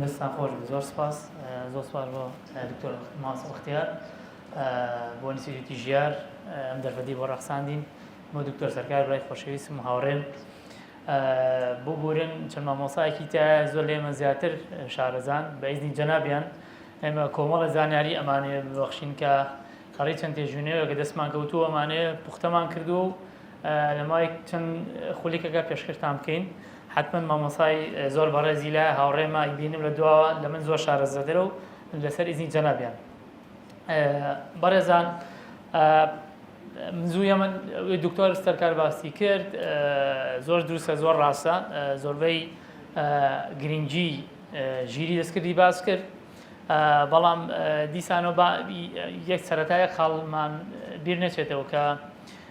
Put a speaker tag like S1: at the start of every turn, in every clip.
S1: دەستتان خۆش بێت زۆر سپاس زۆر سپاس بۆ دکتۆر ماسڵ اختیار بۆ ئینستیتیوتی ژیار ئەم دەرفەتی بۆ ڕەخساندین بۆ دکتۆر سەرکار برای خۆشەویستم و هاوڕێم ببورن چەند مامۆسایەکی تا زۆر لێمە زیاتر شارەزان بە ئیزنی جەنابیان ئێمە کۆمەڵە زانیاری ئەمانەیە ببەخشین کە خەڵی چەند تێژوینەوە کە دەستمان کەوتووە ئەمانەیە پوختەمان کردووە و لەماوەی چەند خولیکەکە پێشکەشتان بکەین حتمما مامۆسای زۆر بەڕێزی لە هاوڕێمە ئیبینم لە دواوە لە من زۆر شارەزەدرە و لەسەر ئیزنی جەنابیان بەڕێزان زووە من دکتۆر سەرکار باسی کرد زۆر دروستە زۆر ڕاستە زۆربەی گرنگی ژیری دەستکردی باس کرد بەڵام دیسانەوە یەک سەتایە خاڵمان بیر نەچێتەوە کە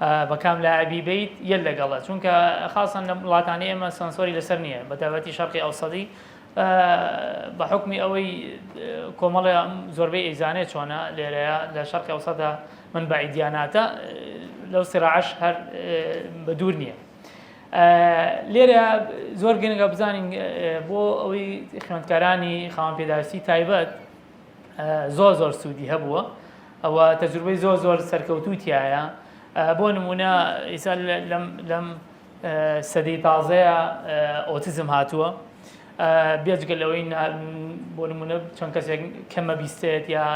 S1: بە کام لاعبی بیت یل لەگەڵە چونکە خاسەن لە وڵاتانی ئێمە سۆنسۆری لەسەر نییە بە تایبەتی شەرقی ئەوسەدی بە حکمی ئەوەی کۆمەڵێ زۆربەی ئەیزانێ چۆنە لێرەیە لە شەرقی ئەوسەدا من بە ئیدیاناتە لەو سراعش هەر بە دوور نییە لێرە زۆر گرنگە بزانین بۆ ئەوەی خوێندکارانی خاوەن پێداویستی تایبەت زۆر زۆر سوودی هەبووە ئەوە تەجروبەی زۆر زۆر سەرکەوتوو تایە بۆ نمونە ئیسا لەم سەدەی تازەیە ئۆتیزم هاتووە بێجگە لەوەی بۆ نمونە چەند کەسێک کەمە بیستێت یا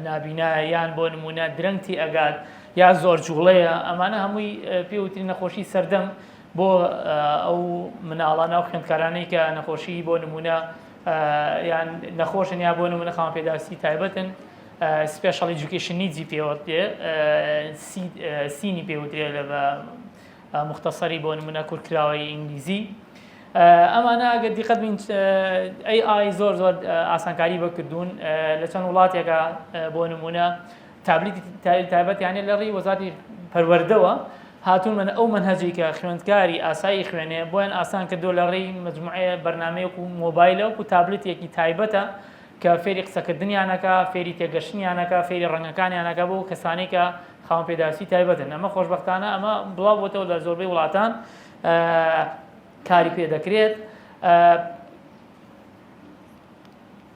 S1: نابینا یان بۆ نمونە درەنگتی ئەگات یا زۆر جوڵەیە ئەمانە هەمووی پێوتری نەخۆشی سەردەم بۆ ئەو مناڵانە و خوێندکارانەی کە نەخۆشی بۆ نمونە یان نەخۆشن یا بۆ نمونە خاوەن پێداویستی تایبەتن سپێشڵ ئیجوکیشن نیدزی پێوەتێ سینی پێوترێ لە بە مختصری بۆ نمونە کورتکراوەی ئینگلیزی ئەمانە ئەگەر دیقەت بین ئەی ئای زۆر زۆر ئاسانکاری بەکردوون لە چەند وڵاتێکە بۆ نمونە تابلیتی تایبەتیانە لە ڕێی وەزاتی پەروەردەوە هاتوونمەە ئەو مەنهەجی کە خوێندکاری ئاسایی خوێنێ بۆیان ئاسان کردو لە ڕێی مجموعەیە بەرنمەیەک و مۆبایلە وکو تابلتێکی تایبەتە کە فێری قسەکردنیانەکە فێری تێگەشتنیانەکە فێری ڕەنگەکانیانەکە بۆ کەسانی کە خاوەن پێداویستی تایبەتن ئەمە خۆشببختانە ئەمە بڵاو بۆتەوە لە زۆربەی وڵاتان کاری پێ دەکرێت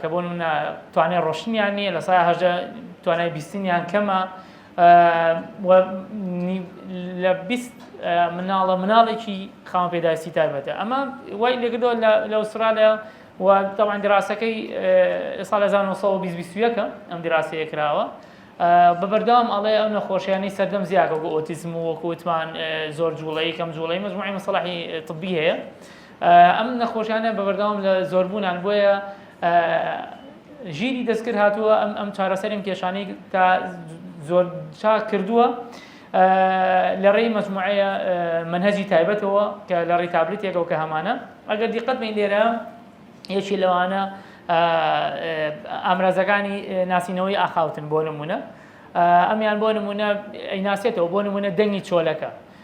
S1: کە بۆ نمونە توانای ڕۆشتنیان نییە لە سای هەژدە توانای بیستنیان کەمە لە بیست مناڵە مناڵێکی خاوە پێداویستی تایبەتە ئەمە وای لەگردەوە لە ئوسترالیا و تاوان دیراسەکەی سال 1920ەکە ئەم دیراسەیە کراوە بە بەردەوام ئەڵێ ئەو نەخۆشیانی سەردەم زیاکە بۆ ئۆتیزم و وەکوتمان زۆر جوڵەی کەم جوڵەی مجموعی مەسەڵحی طبی هەیە ئەم نەخۆشیانە بەبەردەوام لە زۆربوونان بۆیە ژیری دەستکرد هاتووە ئەم ئەم چارەسەریم کێشانەی تا زۆر چاک کردووە لە ڕێی مەجموعەیە منهجی تایبەتەوە کە لە ڕێی تابلتێکەوە کە هەمانە ئەگەر دیقەت بین لێرە یەکی لەوانە ئامرازەکانی ناسینەوەی ئاخاوتن بۆ نمونە ئەمیان بۆ نمونە ئەیناسێتەوە بۆ نمونە دەنگی چۆلەکە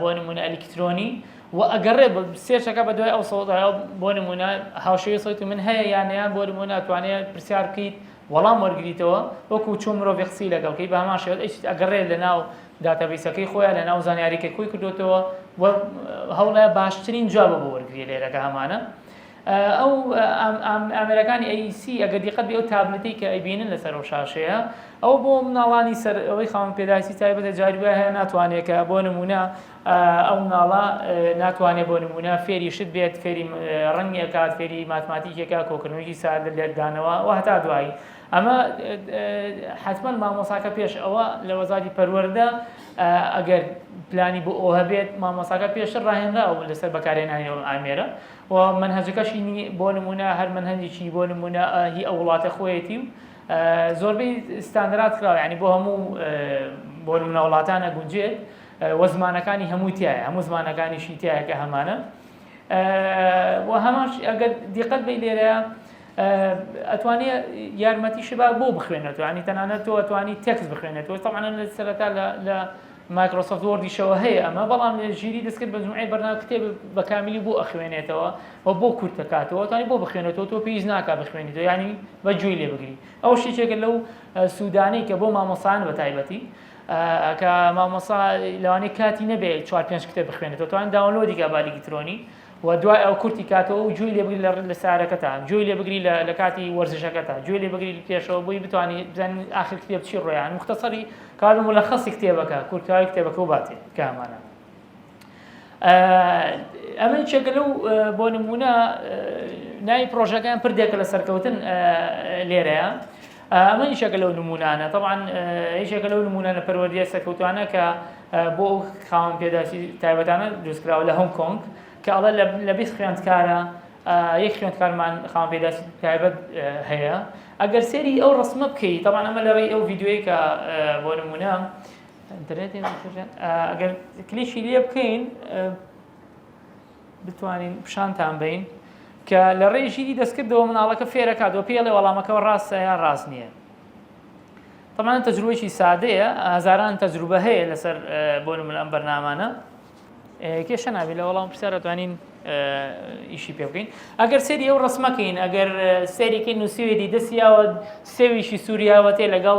S1: بۆ نموونە ئەلیکترۆنی و ئەگەڕێ سێرچەکە بە دوای ئەو سەوتە بۆ نمونە هاوشێوی سەوتی من هەیە یانەیان بۆ نمونە ئەتوانێت پرسیار بکەیت وەڵام وەرگریتەوە وەکو چۆن مرۆڤی قسی لەگەڵکەی بە هەمان شێوت ئەیشت ئەگەڕێت لە ناو داتابیسەکەی خۆیان لە ناو زانیاریکە خۆی کردوتەوە هەوڵە باشترین جوابە بۆ وەرگری لێرەکە هەمانە ئەو ئامێرەکانی ئەی سی ئەگەر دیقەت بێ ئەو تابلتەی کە ئەیبینن لەسەر ئەو شاشەیە ئەوە بۆ مناڵانی سەر ئەوەی خاوەن پێداویستی تایبەتە جاری وای هەیە ناتوانێت کە بۆ نمونە ئەو مناڵە ناتوانێت بۆ نمونە فێری شت بێت فێری ڕەنگێکات فێری ماتماتیکێکا کۆکردنەوەی ساد لێکدانەوە و هەتا دوایی ئەمە حتمما مامۆساکە پێش ئەوە لە وەزاری پەروەەردە ئەگەر پلانی بۆ ئەو هەبێت مامۆساکە پێشتر ڕاهێنراوە لەسەر بەکارێنانی ئەو ئامێرە و مەنهەجەکەشی نی بۆ نمونە هەر مەنهەجێکی بۆ نمونە هی ئەو وڵاتە خۆیەتی و زۆربەی ستاندرات کراوە ینی بۆ هەموو بۆ نمونە وڵاتانە گونجێت وە زمانەکانی هەمووی تایە هەموو زمانەکانیشی تایە کە هەمانە و هەماش ئەگەر دیقەت بی لێرە ئەتوانێ یارمەتی شبا بۆ بخوێنێتەوە ینی تەنانەت تۆ ئەتوانی تێکس بخوێنێتەوە تەمانە لە سەرەتا لە مایکرۆسۆفت وۆردیشەوە هەیە ئەمە بەڵام ژیری دەستکرد مەجموعەی بەرنامە کتێب بە کاملی بۆ ئەخوێنێتەوە و بۆ کورت دەکاتەوە توانی بۆ بخوێنێتەوە تۆ پێویست ناکا بخوێنیتەوە ینی بە گوێی لێ بگری ئەو شتێکە لەو سوودانەی کە بۆ مامۆسان بە تایبەتی کە مامۆسا لەوانەیە کاتی نەبێت چوار پێنج کتێب بخوێنێتەوە توان داونلۆدی کە بالیکترۆنی وە دوای ئەو کورتی کاتەوە و گوێی لێ بگری لە لە سارەکەتان گوێی لێ بگری لە لە کاتی وەرزشەکەتان گوێی لێ بگری پێشەوە بۆی بتوانانی بزانین ئاخر کتێب چی ڕۆیان مختصری کار و ملخصی کتێبەکە کورتکاری کتێبەکە و باتێ کامانە ئەمە چێکە لەو بۆ نمونە ناوی پرۆژەکەیان پردێکە لە سەرکەوتن لێرەیە ئەمە یشێکە لەو نمونانە تەبان یشێکە لەو نمونانە پەروەردیە سەکەوتوانە کە بۆ ئەو خاوەن پێداسی تایبەتانە دروستکراوە لە هۆنگ کۆنگ کە ئەڵە لە بیست خوێندکارە یەک خوێندکارمان خاوەن پێداسی تایبەت هەیە ئەگەر سێری ئەو ڕسمە بکەیت تەبان ئەمە لە ڕێی ئەو ڤیددیوی کە بۆ نمونە ئەگەر کلیشی لێ بکەین بتوانین پیشانتان بەین کە لە ڕێی ژیری دەستکردەوە مناڵەکە فێرەکات و پێڵێ وەڵامەکەەوە ڕاستە یا ڕاست نییە طبعا تەجروبەی سادەیە هزاران تەجروبە هەیە لەسەر بۆ من ئەم بەرنامانە کێشە نابێت لە وەڵام پرسیار دەتوانین ئیشی پێ بکەین ئەگەر سێری ئەو ڕسمەکەین ئەگەر سێریکەی نووسوێری دەستیاوە سێویشی سووریاوەتێ لەگەڵ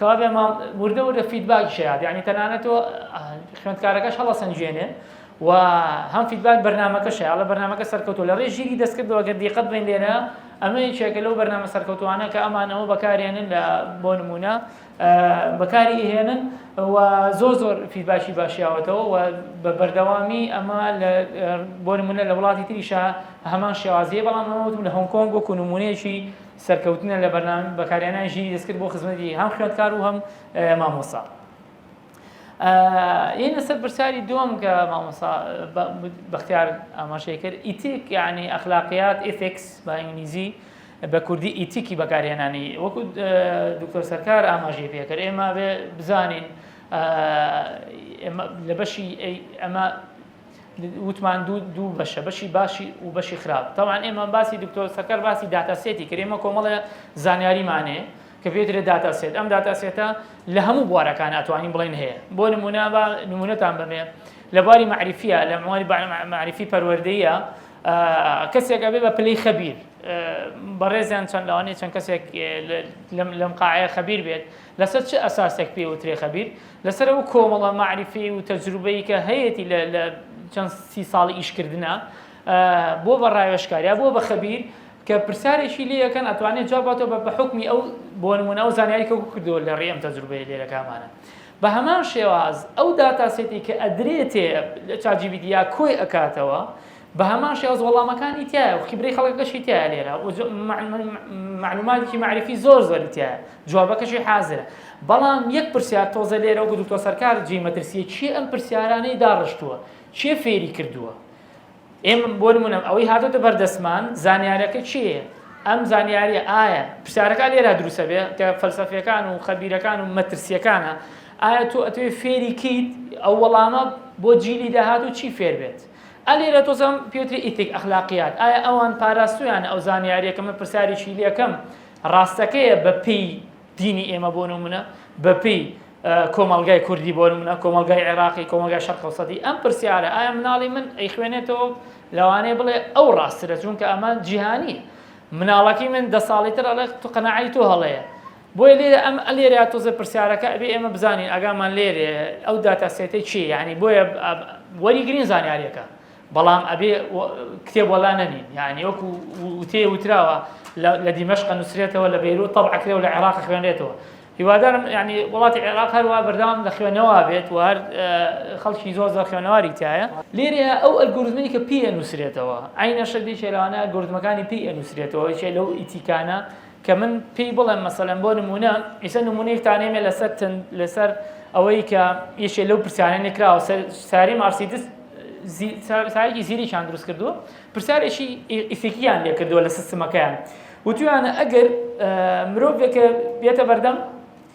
S1: کاڤێ مام وردە وردە فیدباکی شەیاد یعنی تەنانەت تۆ خوێندکارەکەش هەڵەسەنگێنێ و هەم فیدباک بەرنمەکە شەیاڵە بەرنمەکە سەرکەوتو لە ڕێ ژیری دەستکردەوە گەر دیقەت بین لێرە ئەمە یەکێکە لەو بەرنامە سەرکەوتوانە کە ئەمانەوە بەکارێنن لە بۆ نمونە بەکاری هێنن و زۆر زۆر فیدباشی باشیاوەتەوە و بە بەردەوامی ئەمە بۆ نمونە لە وڵاتی تریشە هەمان شێوازیە بەڵام ئەوتم لە هۆنکۆنگ وەکو نمونەیەکی سەرکەوتنە لە بەرنامەی بەکارهێنانی ژیری دەستکرد بۆ خزمەتی هەم خوێندکار و هەم مامۆستا. یەنە سەر پرسیاری دووەم کە مامۆستا بەختیار ئاماژەی کرد ئیتیک یعنی ئەخلاقیات ئیتیکس بە ئینگلیزی بە کوردی ئیتیکی بەکارهێنانی وەکو دکتۆر سەرکار ئاماژەی پێکرد ئێمە بزانین لە بەشی ئەمە وتمان دوو دوو بەشە بەشی باشی و بەشی خراپ تاوان ئێمە باسی دکتۆر سەکەر باسی داتاسێتی کرێمە کۆمەڵە زانیاریمانێ کە پێترێ داتاسێت ئەم داتاسێتە لە هەموو بوارەکان ئەتوانین بڵێن هەیە بۆ نمونە بە نمونەتان بەمێ لە باری معریفە لە مواری معریفی پەروەردەیە کەسێک ئەبێ بە پلەی خەبیر بەڕێزیان چەند لەوانەیە چەند کەسێک لەم قاعەیە خەبیر بێت لەسەر چ ئەساسێک پێی وترێ خەبیر؟ لەسەر ئەو کۆمەڵە مەعریفی و تەجروبەی کە هەیەتی لە لە چەند سی ساڵی ئیشکردنا بۆ بە ڕاوێژکاریا بۆ بە خەبیر کە پرسیارێکی لێ یەکەن ئەتوانێت جواب باتەوە بە بە حکمی ئەو بۆ نمونە ئەو زانیاری کە کردەوە لە ڕێ ئەم تەجروبەیە لێرەکامانە بە هەمان شێواز ئەو داتاسێتی کە ئەدرێتێ لە چاجیبیدیا کۆی ئەکاتەوە بە هەمان شێواز وەڵامەکانی تیایە و خیبرەی خەڵکەکەشی تیایە لێرە و مەعلوماتێکی مەعریفی زۆر زۆری تیایە جوابەکەشی حازرە بەڵام یەک پرسیار تۆزە لێرە و گوتوتۆ سەرکار جێی مەترسیە چی ئەم پرسیارانەی داڕشتووە چێ فێری کردووە ئێمە بۆ نمونم ئەوەی هاتۆتە بەردەستمان زانیارەکە چیە ئەم زانیاریە ئایا پرسیارەکە لێرا دروسە بێ کە فەلسەفیەکان و خەبیرەکان و مەترسیەکانە ئایا تۆ ئەتوێ فێری کیت ئەو وەڵامە بۆ جیلی داهات و چی فێر بێت ئا لێرە تۆزم پێوتری ئیتیک ئەخلاقیات ئایا ئەوان پاراستویانە ئەو زانیاریە کە من پرسیاریی لێکەم ڕاستەکەیە بە پێی دینی ئێمە بۆ نمونە بە پێی کۆمەڵگای کوردی بۆ نمونە کۆمەڵگای عێراقی کۆمەڵگای شەرق ئەوسەتی ئەم پرسیارە ئایا مناڵی من ئەیخوێنێتەوە لەوانەیە بڵێ ئەو ڕاسترە چونکە ئەمە جیهانیە مناڵەکەی من دە ساڵی تر ئەڵێ تو قەناعەی تۆ هەڵەیە بۆیە لێرە ئەم لێرە تۆزێ پرسیارەکە ئەبێ ئێمە بزانین ئەگامان لێرێ ئەو داتا سێتە چی یعنی بۆیە وەریگرین زانیاریەکە بەڵام ئەبێ کتێب وەلا نەنین یعنی وەکو وتێ وتراوە لە دیمەشق نووسرێتەوە لە بەیرو تەب عکرێ و لە عێراق خوێنێتەوە هیوادارم ینی وڵاتی عێراق هەروە بەردەوام لە خوێنەوە بێت و هەر خەڵکی زۆر زۆر خوێنەواری تایە لێرە ئەو ئەلگوردمەی کە پێ نووسرێتەوە ئاینەشە دێکێراوانە گردمەکانی پێ نووسرێتەوە چێ لەو ئیتیکانە کە من پێی بڵێم مەسەلەن بۆ نموونە ئیسە نمونەی تانێمێ لەسەر تن لەسەر ئەوەی کە یشێ لەو پرسیارە نکراوە ساری مارسیدس سایەکی زیریشان دروست کردووە پرسیارێکی ئیفیکیان لێ کردووە لە سیستمەکەیان وتویانە ئەگەر مرۆڤێکە بێتە بەردەم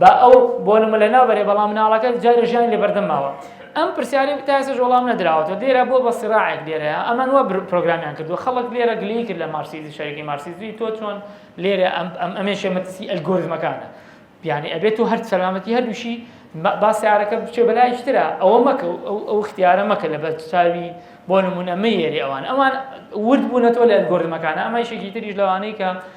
S1: با ئەو بۆنمە لە ناو بەرێ بەڵام مناڵەکە جارێ ژیانی لەبەردەم ماوە ئەم پرسیاری تاسەش وەڵام نەدراوەتەوە لێرە بۆ بە سراعێک لێرەیە ئەمان وە پرۆگرامیان کردووە خەڵک لێرە گلی کرد لە مارسیزی شەرکی مارسیزی تۆ چۆن لێرە ئەم ئەم ئەمێ شێمەتسی ئەلگۆرزمەکانە بیانی ئەبێت تو هەر سەلامەتی هەردووشی با سیارەکە بچێ بەلایشترا ئەوە مەکە ئەو اختیارە مەکە لە بەرچاوی بۆ نمونە مەیەری ئەوان ئەوان ورد بوونەتەوە لە ئەلگۆرزمەکانە ئەمای شێکی تریش لەوانەیە کە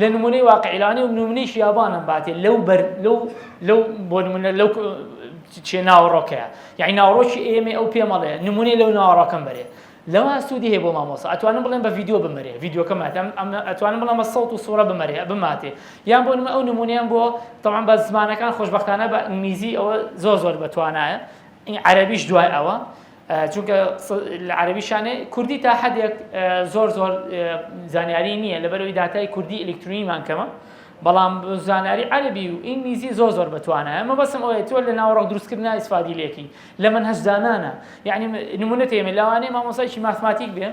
S1: لە نمونەی واقعیلانی و نمونەیش یابانم باتێ لەو بەر لەو لەو بۆ نمونە لەو چێ ناوەڕۆکەیە یعنی ناوڕۆکی ئێمە ئەو پێمەڵێ نمونەی لەو ناوەڕۆکەم بەرێ لەوە سوودی هەیە بۆ مامۆسا ئەتوانم بڵێن بە یددیو بمەرێ یددیوکەم ئەتوانم بڵام بە سەوت و سوڕە بمەرێ بماتێ یان بۆ نمە ئەو نمونیان بۆ تەوان بە زمانەکان خۆشببختانە بە ئینگلیزی ئەوە زۆر زۆر بەتوانایە این عەربیش دوای ئەوە چونکە عەرەبی شانێ کوردی تا حەدێک زۆر زۆر زانیاری نییە لەبەرەوەی داتای کوردی ئەلکترونیمان کەمە بەڵام زانیاری عەربی و ئینگلیزی زۆر زۆر بەتوانە ئەمە بەسم ئەوەیە تۆ لە ناوەڕۆک دروستکردنا ئیسفادی لێکی لە من هەزدانانە یعنی نمونە تێمە لاوانەیە مامۆسایکی ماتماتیک بێ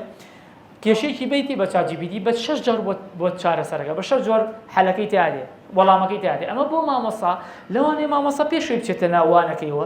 S1: کێشێکی بیتی بە چاجیبیدی بە شش جار بۆ چارەسەرەکە بە شەر جۆر حەلەکەی تادێ وەڵامەکەی تادێ ئەمە بۆ مامۆسا لەوانێ مامۆسا پێشوی بچێتە ناوانەکەیەوە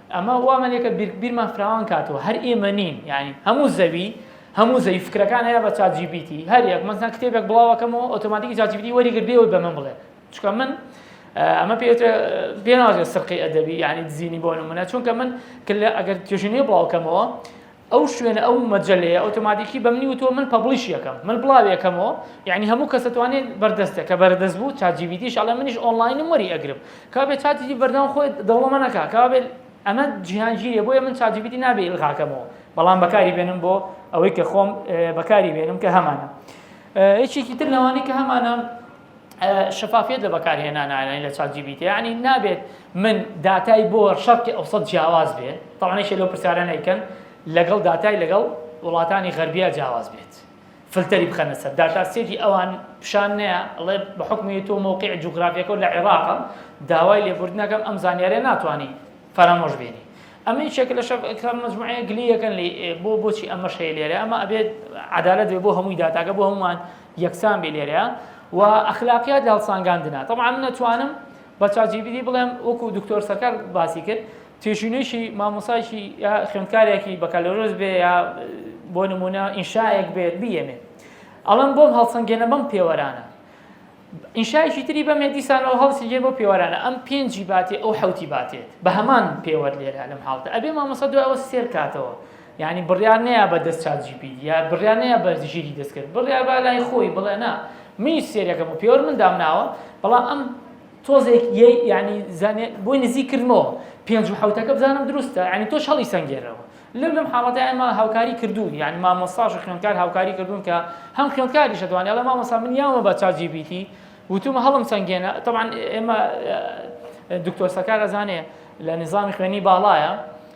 S1: ئەمە وا مەلێکە بیر بیرمان فراوان کاتەوە هەر ئێمە نین یانی هەموو زەوی هەموو زەوی فکرەکان هەیە بە چات جی پی تی هەر یەک مەسەن کتێبێک بڵاوەکەمەوە ئۆتۆماتیکی چات جی پی تی وەری گرت بێەوەی بە من بڵێ چونکە من ئەمە پێتە پێناوازێت سرقی ئەدەبی یعنی دزینی بۆ نمونە چونکە من کە ئەگەر توێژینەوە بڵاوکەمەوە ئەو شوێنە ئەو مەجەلەیە ئۆتۆماتیکی بەمنی وتوە من پەبڵیشی ئەکەم من بڵاوی ئەکەمەوە یعنی هەموو کەس ئەتوانێ بەردەستە کە بەردەست بوو چات جی بی تیش ئەڵێ منیش ئۆنڵاینم وەری ئەگرم کەوا بێ چاتی جی بەردەوام خۆی دەوڵەمەند ئەکا کەوا بێ ئەمە جیهانگیریە بۆیە من چات جی بی تی نابێ ئیلغاکەمەوە بەڵام بەکاری بێنم بۆ ئەوەی کە خۆم بەکاری بێنم کە هەمانە یەکێکی تر لەوانەی کە هەمانە شەفافیت لە بەکارهێنان ئاینی لە چات جی بی تی ینی نابێت من داتای بۆ شەرقی ئەوسەد جیاواز بێت تاوانێکی لەو پرسیارانە ئەیکەن لەگەڵ داتای لەگەڵ وڵاتانی غەربیا جیاواز بێت فلتەری بخەنە سەر داتا سێتی ئەوان پیشان نەیە ئەڵێ بە حکمی تۆ مووقی جوگرافیەکە لە عێراقە داوای لێبوردنەکەم ئەم زانیارە ناتوانانی فەرامۆش بێنی ئەمە یەکێک لە شەکان مجموعەیە گلیەکەن بۆ بۆچی ئەمە شەیە لێرە ئەمە ئەبێت عدالت بۆ هەمووی داتاکە بۆ هەمومان یەکسان بی لێرەیە و ئەخلاقیات لە هەڵسانگاندنا طبعا من ئەتوانم بە چاجیبیدی بڵێم وەکو دکتۆر سەرکار باسی کرد تێشینێکی مامۆسایکی یا خوێندکارێکی بەکالۆرۆز بێ یا بۆ نمونە ئینشایەک بێت بیەمێ ئەڵم بۆم هەڵسەنگێنە بەم پێوەرانە ئینشایکی تری بەمێ دیسانەوە هەڵسیگەن بۆ پێوەرانە ئەم پێنجی باتێ ئەو حوتی باتێت بە هەمان پێوەەر لێرە لەم حاڵتە ئەبێ مامۆسا دوایەوە سێر کاتەوە یانی بڕیار نەیا بە دەست چات جی پی تی یا بڕیار نەیا بە ژیری دەستکرد بڕیار با لای خۆی بڵێ نا منیش سێرەکەم و پێوەر من دامناوە بەڵام ئەم تۆزێک یەی یعنی زانێ بۆی نزیک کردمەوە پێنج و حوتەکە بزانم دروستە ینی تۆش هەڵی سنگێرەوە لەم لەم حاڵەتی ئەمە هاوکاری کردوون یعنی مامۆستاش و خوێندکار هاوکاری کردوون کە هەم خوێندکاریش دەوانێت لە مامۆستا من یاوە بە چاجی بیتی وتومە هەڵم سنگێنە تەعاان ئێمە دکتۆر سەکار ئەزانێ لە نظامی خوێنی باڵایە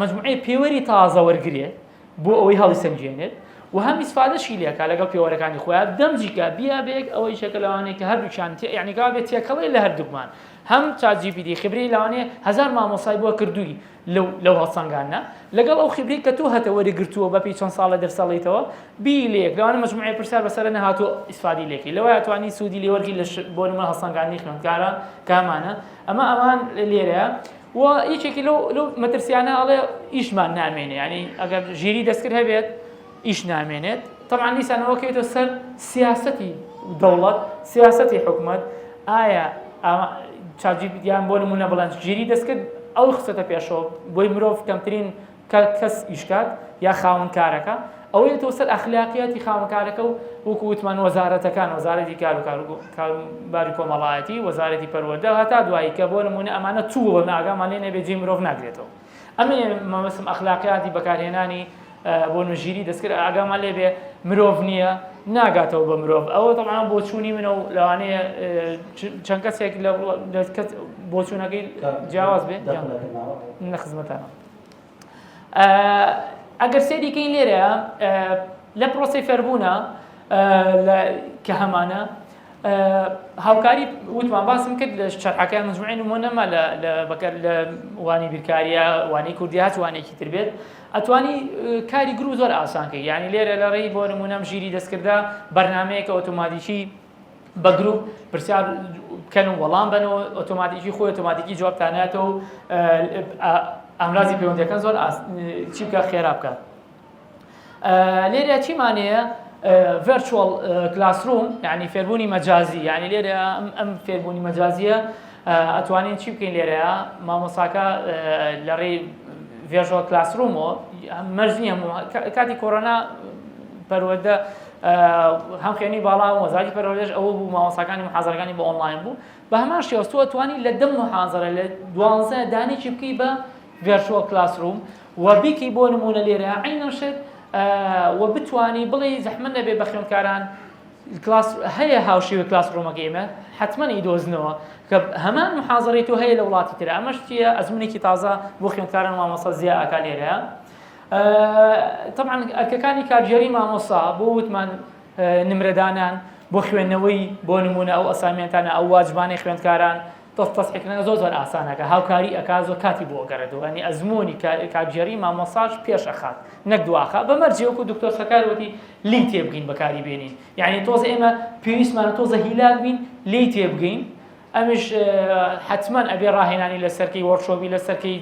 S1: مەجموعەی پێوەری تازە وەرگرێت بۆ ئەوەی هەڵیسەنگێنێت و هەم ئیسفادەشی لێکا لەگەڵ پێوەرەکانی خۆیان دەمجیکە بیا بێک ئەوەی شەکە لەوانەیە کە هەردووچان یعنیگا بێت تێکەڵی لە هەردووکمان هەم چاجیبیدی خبری لەوانێ هزار مامۆسای بۆ کردووی لەو لەو هەڵسەنگانە لەگەڵ ئەو خبری کە تۆ هەتە وەرەگرتووە بەپی چەند ساڵە دەرسەڵیتەوە بی لێک لەوانە مجموعی پرسیار بەسەر نەهاتۆ ئیسفادی لێکی لەوە توانی سوودی لێوەرگی لە بۆ نمە هەڵسەنگانی خوێندکاران کامانە ئەمە ئەوان لێرەیە وە یەکێکی لەو لەو مەترسیانە ئەڵێ ئیشمان نامێنێ ینی ئەگەر ژیری دەستکرد هەبێت ئیش نامێنێت تەمان دیسانەوە کەیتۆ سەر سیاستی دەوڵەت سیاستی حکومت ئایا چاجیبیان بۆ نمونە بڵند ژیری دەستکرد ئەو خسەتە پێشەوە بۆی مرۆڤ کەمترین کە کەس ئیشکات یا خاوەن کارەکە ئەوەی تۆ سەر ئەخلاقیاتی خاوەن کارەکە و وەکو وتمان وەزارەتەکان وەزارەتی کار و کار کاروباری کۆمەڵایەتی وەزارەتی پەروەردە هەتا دوایی کە بۆ نمونە ئەمانە چوو بە ئاگامان لێ نەبێ جێی مرۆڤ ناگرێتەوە ئەمێ مەبەستم ئەخلاقیاتی بەکارهێنانی بۆ نوژیری دەستکرد ئاگامان لێ بێ مرۆڤ نییە ناگاتەوە بە مرۆڤ ئەوە دەڵان بۆچوونی منە و لەوانەیە چەند کەسێک لە بۆچوونەکەی جیاواز بێ نە خزمەتانە ئەگەر سێری کەین لێرە لە پرۆسی فێربوونە کە هەمانە هاوکاری وتمان باسم کرد لە شەرحەکە مجموعی نمۆ نەما لە بەکەر لە وانی بیرکاریە وانی کوردی هات وانێکی تر بێت ئەتوانی کاری گرو زۆر ئاسانکە یعنی لێرە لە ڕێی بۆ نمونەم ژیری دەستکردە بەرنمەیەکە ئۆتۆماتیکی بە گروپ پرسیار بکەن و وەڵام بنەوە ئۆتۆماتیکی خۆی ئۆتۆماتیکی جوابتاناتەوە و ئامرازی پەیوەندەکەن زۆر چی بکە خێرا بکە لێرە چیمانەیە ڤرچوەڵ کلاسروم یعنی فێربوونی مەجازی یعنی لێرە ئەم فێربوونی مەجازیە ئەتوانین چی بکەین لێرەیە مامۆساکە لە ڕێی ڤێژۆ کلاسرومەوە مەرز نییە کاتی کۆرۆنا پەروەدە هەم خوێنی باڵا هەم وەزارەتی پەروەردەش ئەوە بوو مامۆستاکانی محازەرەکانی بۆ ئۆنلاین بوو بە هەمان شێوە تۆ توانی لە دە محازەرە لە دوانزە دانێکی بکەی بە ڤێرچوەڵ کلاسروم و بیکەی بۆ نمونە لێرە عینەم شت و بتانی بڵێ زەحمە نەبێ بە خوێندکاران کلاس هەیە هاوشێوە کلاس ڕۆمەکە ئمە حتمما ئیدۆزنەوە کە هەمان محازڕی تۆ هەیە لە وڵاتی تر ئەمەش چیە ئەزمونێکی تازە بۆ خوێندکاران مامەسە زیاکە لێرە تەبعەن ئەرکەکانی کارگێڕی مامۆستا بۆ وتمان نمرەدانان بۆ خوێندنەوەی بۆ نمونە ئەو ئەسامێنتانە ئەو واجبانەی خوێندکاران تەستەسحکردنەکە زۆر زۆر ئاسانەکە هاوکاری ئەکا زۆر کاتی بۆ گەڕێتەوە ئەنی ئەزمموی کارگێری مامۆساش پێش ئەخات نەک دواخە بە مەرجێوەکو دکتۆر سەکاروتی لی تێبگەین بەکاری بێنین یعنی تۆزە ئێمە پێویستمانە تۆزە هیلاک بین لی تێبگەین ئەمیش حەتمەن ئەبێ ڕاهێنانی لەسەرکەی وەرشۆبی لەسەرکەی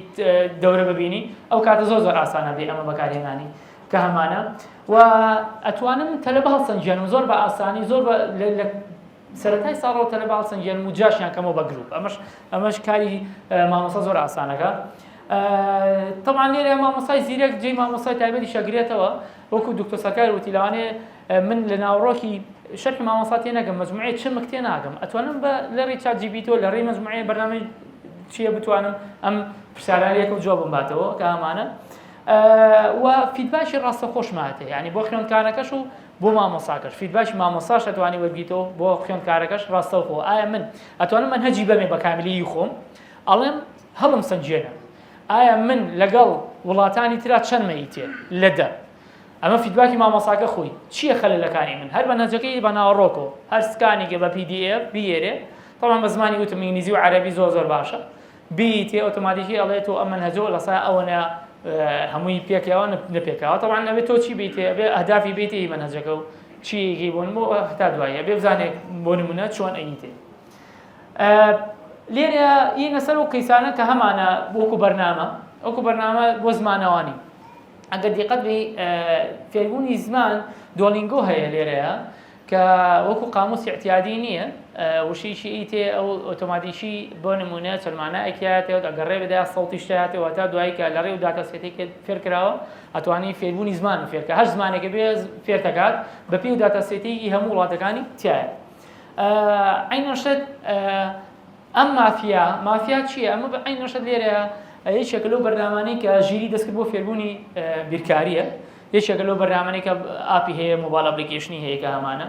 S1: دەورە ببینی ئەو کاتە زۆر زۆر ئاسانە بێ ئەمە بەکارهێنانی کە هەمانە و ئەتوانم تەلە بە هەڵسەنگیانم زۆر بە ئاسانی زۆر سەرەتای ساڵەوە تەلە بە هەڵسەنگیانم و جاشیان کەمەوە بە گروپ ئەمەش ئەمەش کاری مامۆسا زۆر ئاسانەکە تەمان لێرە مامۆسای زیرەک جێ مامۆسای تایبەتی شەگرێتەوە وەکو دکتۆ سەکار وتی لەوانێ من لە ناوەڕۆکی شەرحی مامۆستا تێ نەگەم مەجموعەی چمک تێ ناگەم ئەتوانم بە لەڕی چات جی بی تۆ لەڕی مەجموعەیە بەرنامەی چییە بتوانم ئەم پرسیاران یەکەم جوابم باتەوە کە ئامانە و فیدباشی ڕاستە خۆشماتێ ینی بۆ خوێندکارەکەش و بۆ مامۆساکەش فیدباشی مامۆساش ئەتوانی وەرگیتەوە بۆ خوێندکارەکەش ڕاستەوخۆ ئایا من ئەتوانم من هەجی بەمێ بە کامیلی خۆم ئەڵێم هەڵم سنجێنە ئایا من لەگەڵ وڵاتانی تررا چەندمەی تێ لە دە ئەمە فیدباکی مامۆساکە خۆی چییە خەلەلەکانی من هەر مەنهەجەکەی بە ناوەڕۆکەوە هەر سکانێکی بە پی دی ئێف بیێرێ تەڵان بە زمانی وتم ئینگلیزی و عەرەبی زۆر زۆر باشە بیتێ ئۆتۆماتیکی ئەڵێ تۆ ئەم مەنهەجەوە لە سای ئەوەنە هەمووی پێکەوە نەپێکەوە تەڵان ئەوێ تۆ چی بیتێ ئەبێ ئەهدافی بیتێ ئی مەنهەجەکە و چیەکی بۆن بۆ هەتا دوایە بێ بزانێت بۆ نمونە چۆن ئەیتێ لێرە ینە سەر و قیسانە کە هەمانە وەکو بەرنامە ئەوکو بەرنامە بۆ زمانەوانی ئەگەر دیقەت بی فێربوونی زمان دۆلینگۆ هەیە لێرەیە کە وەکو قاموس اعتیادی نییە وشیشی ئیتێ ئەو ئۆتۆماتیکی بۆ نمونە چەلمانە ئەکیاتێت ئەگەڕێ بدا سەڵتیش تاتێەوە تا دوایی کە لە ڕێ و داتا سێتێک فێرکراوە ئەتوانی فێربوونی زمان و فێرکە هەر زمانێکە بێ فێرتەکات بە پێی و داتا سێتێکی هەموو وڵاتەکانی تایە عینەشت ئەم مافیا مافیا چییە ئەمە بە عین نەشت لێرە یەکێکە لەو بەرنامانەی کە ژیری دەستکرد بۆ فێربوونی بیرکاریە یەکێکە لەو بەرنامەی کە ئاپی هەیە مۆبایل ئەپلیکیشنی هەیە کە هەمانە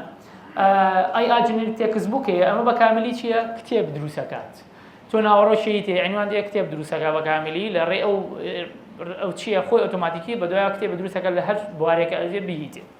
S1: ئای ئاجنری تێکس بکەیە ئەمە بە کاملی چییە کتێب دروستەکات تۆ ناوەڕۆشی تێ ئەنوان دێ کتێب دروستەکە بە کاملی لە ڕێ ئەو ئەو چییە خۆی ئۆتۆماتیکی بە دوای کتێب دروستەکە لە هەر بوارێکە ئەزێ بیهیتێ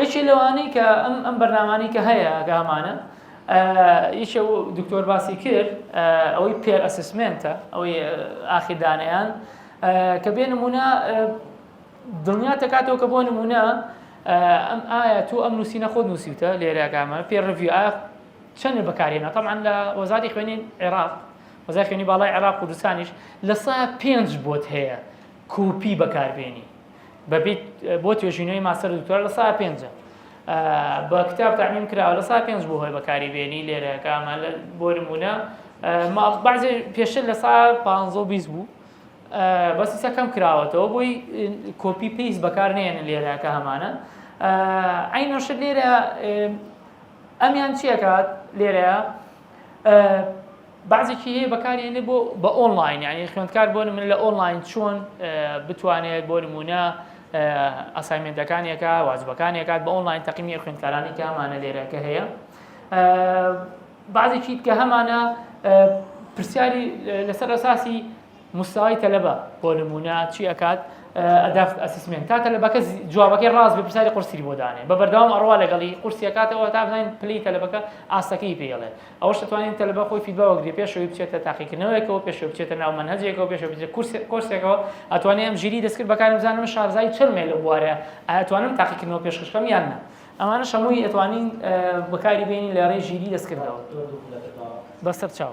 S1: یەکێ لەوانەی کە ئەم ئەم بەرنامانەی کە هەیە کە هەمانە یەکێ دکتۆر باسی کرد ئەوەی پێر ئەسسمنتە ئەوەی ئاخیردانیان کە بێ نمونە دڵنیا تەکاتەوە کە بۆ نمونە ئەم ئایا تۆ ئەم نووسینە خۆ نووسیوتە لێراگامە پێ ڕڤی ئایا چەندە بەکارێنە تەمان لە وەزاری خوێنین عێراق وەزای خوێنی باڵای عێراق کوردستانیش لە سا پێنج بۆت هەیە کوپی بەکاربیێنی بەپیت بۆ توێژینەوەی ماستەر دکتۆر لە سا پێنجە بە کتاب تعمیم کراوە لە سا پێنج بۆ هۆی بەکاری بێنی لێرە کامە بۆ نمونە بازێ پێشتر لە سا پ بیست بوو بەسی سەکەم کراوەتەوە بۆی کۆپی پیس بەکار نێن لێرەکە هەمانە ئەینۆش لێرە ئەمیان چیەکات لێرە بەعزێکی هەیە بەکاری هێنێ بۆ بە ئۆنڵاین یعنی خوێندکار بۆ من لە ئۆنڵاین چۆن بتوانێت بۆ نمونە ئەسایمنتەکانێکە واجبەکانێکات بە ئۆنڵاین تەقیمی خوێندکارانی کە هەمانە لێرەکە هەیە بعضێکی کە هەمانە پرسیاری لەسەر ئەساسی مستەوای تەلەبە بۆ نموونە چی ئەکات ئەدافت ئەسسمێن تا تەلەبەکە جوابەکەی ڕاست بێ پرسیاری قورسی بۆ دانێ بە بەردەوام ئەڕوا لەگەڵی قورسیەکاتەوە تا بزانین پلی تەلەبەکە ئاستەکەی پێڵێ ئەوش دەتوانین تەلەبە خۆی فیدبا وەگرێ پێشەوەی بچێتە تاقیکردنەوەیەکەوە پێشەوە بچێتە ناو منهجێکەوە پێشەوە بچێت کورسێکەوە ئەتوانێ ئەم ژیری دەستکرد بەکارم بزانم شارزایی چرمێ لە بوارە ئەتوانم تاقیکردنەوە پێشخشکەم یان نە ئەمانە شەمووی ئەتوانین بەکاری بینین لە ڕێ ژیری دەستکردەوە بەسەر چاو.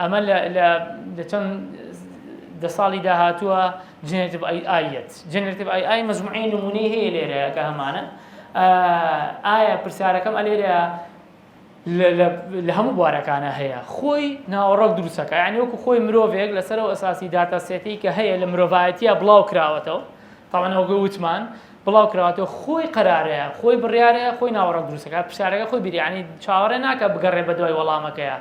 S1: ئەمە لە دەچەند دە ساڵی داهاتووە جنێتب ئەی ئایەت جنێتب ئەی ئای مەزمعی نمونەی هەیە لێرە کە هەمانە ئایا پرسیارەکەم ئەلێرە لە هەموو بوارەکانە هەیە خۆی ناوەڕۆک دروستەکە یعنی وەکو خۆی مرۆڤێک لەسەر و ئەساسی داتا سێتی کە هەیە لە مرۆڤایەتە بڵاو کراوەتەوە تاوانەوەگە وتمان بڵاو کراوەتەوە خۆی قرارەیە خۆی بڕارەیە خۆی ناوەڕۆک دروستەکە پرسیارەکە خۆی بیریانی چاوەڕێ ناکە بگەڕێ بە دوای وەڵامەکەیە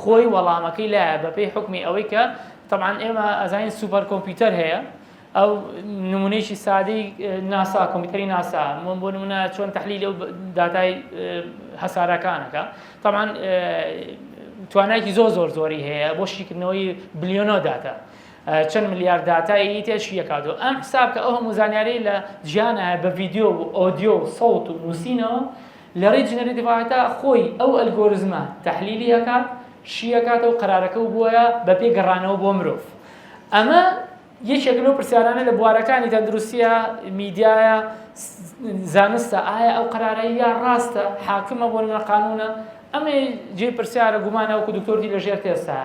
S1: خۆی وەڵامەکەی لایە بەپێی حوکمی ئەوەی کە طبعا ئێمە ئەزانین سوپەر کۆمپیوتەر هەیە ئەو نمونەیەکی سادەی ناسا کۆمپیوتەری ناسا من بۆ نمونە چۆن تحلیل ئەو داتای هەسارەکانەکە طبعا توانایکی زۆر زۆر زۆری هەیە بۆ شیکردنەوەی بلیۆنۆ داتا چەند ملیار داتایی تێش یەکاتۆ ئەم حساب کە ئەو هەموو زانیاری لە جیانە بە ڤیددیو و ئۆدیۆ و سەوت و نووسینەوە لەڕێی جنرەتیڤایەتا خۆی ئەو ئەلگۆرزمە تەحلیلی ئەکات شیئەکاتەوە قەرارەکەو بوایە بەپێی گەڕانەوە بۆ مرۆڤ ئەمە یەکێک لەو پرسیارانە لە بوارەکانی تەندروستیە میدیایە زانستە ئایا ئەو قەرارە یا ڕاستە حاکمە بۆ لە قانونە ئەمە جێ پرسیارە گومانەوەکو دکتۆردی لەژێر تێستا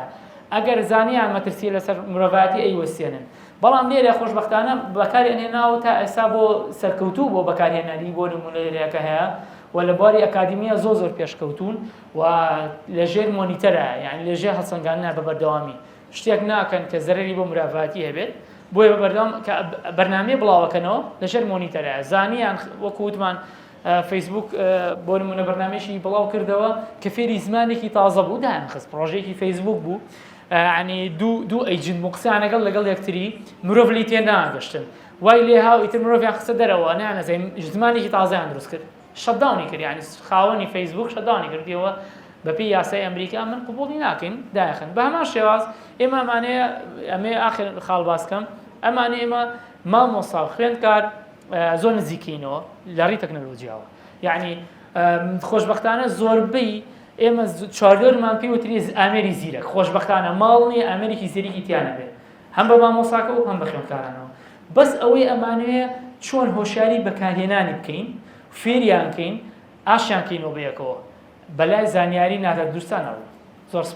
S1: ئەگەر زانیان مەترسیە لەسەر مرۆڤاتی ئەی وەسێنن بەڵام لێرە خۆشبەختانە بەکاری ئەنێناو تا ئێستا بۆ سەرکەوتوو بۆ بەکارهێنەری بۆ نمونە لێرەکە هەیە و لە بواری ئەکادیمیە زۆر زۆر پێشکەوتون و لەژێر مۆنیتەرە یعنی لەژێر هەڵسەنگانە بە بەردەوامی شتێک ناکەن کە زەرری بۆ مرافاتی هەبێت بۆیە بە بەردەوام کە بەرنمەی بڵاوەکەنەوە لەژێر مۆنیتەرە زانیان وەکووتمان فەیسبوک بۆ نمونە بەرنمێکی بڵاو کردەوە کە فێری زمانێکی تازە بوو دایان خست پرۆژێکی فەیسبوک بوو یەعنی دوو دوو ئەیجنت بوون قسەیان لەگەڵ لەگەڵ یەکتری مرۆڤ لی تێ ناگەشتن وای لێ هاو ئیتر مرۆڤیان خستە دەرەوە نانەزەین ژزمانێکی تازەیان دروست کرد شەتداونی کرد یعنی خاوەنی فەیسبوک شەتداونی کردیەوە بەپێی یاسای ئەمریکا من قوبوڵی ناکەین دایخن بە هەمان شێواز ئێمە ئەمانەیە ئەمێ ئاخر خاڵ باسکەم ئەمانە ئێمە مامۆستا و خوێندکار زۆر نزیکینەوە لە ڕی تەکنەلۆجیاوە یعنی خۆشببختانە زۆربەی ئێمە چواردەورمان پێی وتری ئامێری زیرەک، خۆشبەختانە ماڵ نییە ئامێرێکی زیرەکی تیا نەبێت، هەم بە مامۆساکە و هەم بە خوێندکارانەوە، بەس ئەوەی ئەمانەوێ چۆن هۆشیاری بەکارهێنانی بکەین، فێریان کەین، ئاشتیان کەینەوە بەیەکەوە، بەلای زانیاری نادادگرتانە ڕوو. زۆر سپاس.